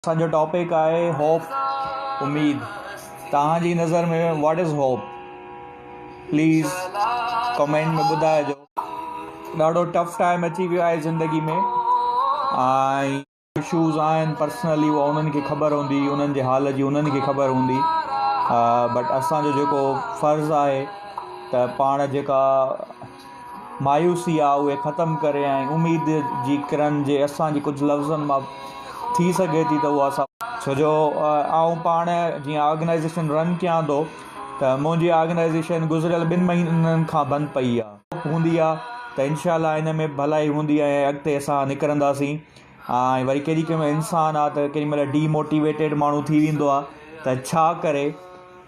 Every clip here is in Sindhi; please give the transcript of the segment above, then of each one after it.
اسانجو ٽاپڪ آهي Hope اميد توهان جي نظر ۾ What is Hope please comment ۾ ٻڌائجو ڏاڍو ٽف ٽائيم اچي ويو آهي زندگي ۾ ۽ اشوز آهن پرسنلي هو انهن کي خبر هوندي انهن جي حال جي انهن کي خبر هوندي بٽ اسانجو جيڪو فرض آهي ته پاڻ جيڪا مايوسي آ اهي ختم ڪري ۽ اميد جي ڪرن جي اسان جي ڪجهه لفظن مان ٿي سگهي ٿي ته اها اسان ۾. ڇو جو آئون پاڻ جيئن آرگنائيزيشن رن ڪيان ٿو ته منهنجي آرگنائيزيشن گذريل ٻن مهينن کان بند پئي آ. هوپ هوندي آ ته انشاء الله ان ۾ به ڀلائي هوندي ۽ اڳتي اسان نڪرنداسين ۽ وري ڪيڏي ڪيمهل انسان آ ته ڪيڏي مهل ڊي موٽيويٽيڊ ماڻهو ٿي ويندو آ ته ڇا ڪري.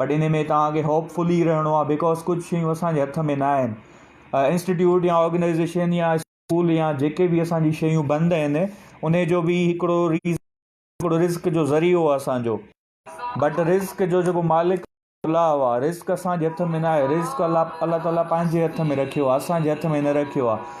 بٽ ان ۾ توهان کي هوپ فل ئي رهڻو آهي بڪاز ڪجهه شيون اسان جي هٿ ۾ نه آهن انسٽيٽيوٽ يا آرگنائيزيشن يا اسڪول يا جيڪي به اسان جي شيون بند آهن ان جو به هڪڙو ريزن هڪڙو رزق جو ذريعو آهي اسان جو بٽ رزق جو جيڪو مالڪ الله آهي رزق اسان جي هٿ ۾ نه آهي رزق الله الله تعاليٰ پنهنجي هٿ ۾ رکيو آهي اسان جي هٿ ۾ نه رکيو آهي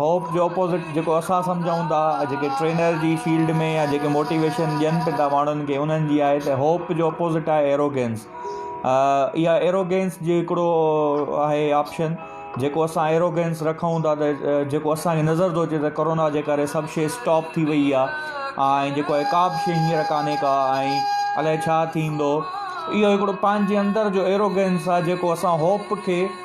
هوپ جي اپوزٽ جيڪو اسان سمجهون ٿا جيڪي ٽرينر جي فيلڊ ۾ يا جيڪي موٽيويشن ڏين به ٿا ماڻهن کي انهن جي آهي ته هوپ جو اپوزٽ آهي ايروگينس اها ايروگينس جي هڪڙو آهي آپشن جيڪو اسان ايروگينس رکون ٿا ته جيڪو اسانکي نظر ٿو اچي ته ڪرونا جي ڪري سڀ شيء اسٽاپ ٿي وئي آهي ۽ جيڪو آهي ڪا به شيء هينئر ڪانهي ڪا ۽ الائي ڇا ٿيندو اهو هڪڙو پنهنجي اندر جو ايروگينس آهي جيڪو اسان هوپ کي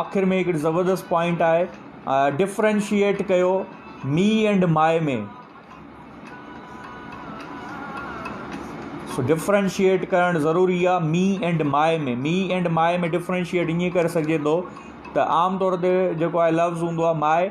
آخر ۾ هڪڙي زبردست پوائنٽ آهي ڊفرينشيئيٽ ڪيو مي اينڊ مائي ۾ سو ڊفرينشيئيٽ ڪرڻ ضروري آهي me and my ۾ me and my ۾ differentiate ائين ڪري سگهجي ٿو ته عام طور تي جيڪو آهي لفظ هوندو آهي مائي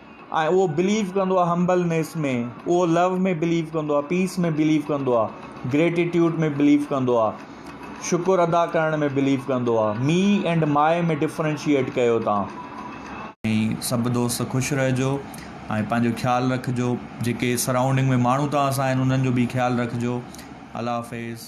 ۽ اهو بليو ڪندو آهي همبلنيس ۾ اهو لو ۾ بليو ڪندو آهي پيس ۾ بليو ڪندو آهي گريٽيٽيوڊ ۾ بليو ڪندو آهي شڪر ادا ڪرڻ ۾ بليو ڪندو آهي مي اينڊ مائي ۾ ڊفرينشيئيٽ ڪيو تان. ۽ سڀ دوست خوش رهجو ۽ پنهنجو خيال رکجو جيڪي سرائونڊنگ ۾ ماڻهو توهان سان آهن انهن جو به خيال رکجو الله حافظ.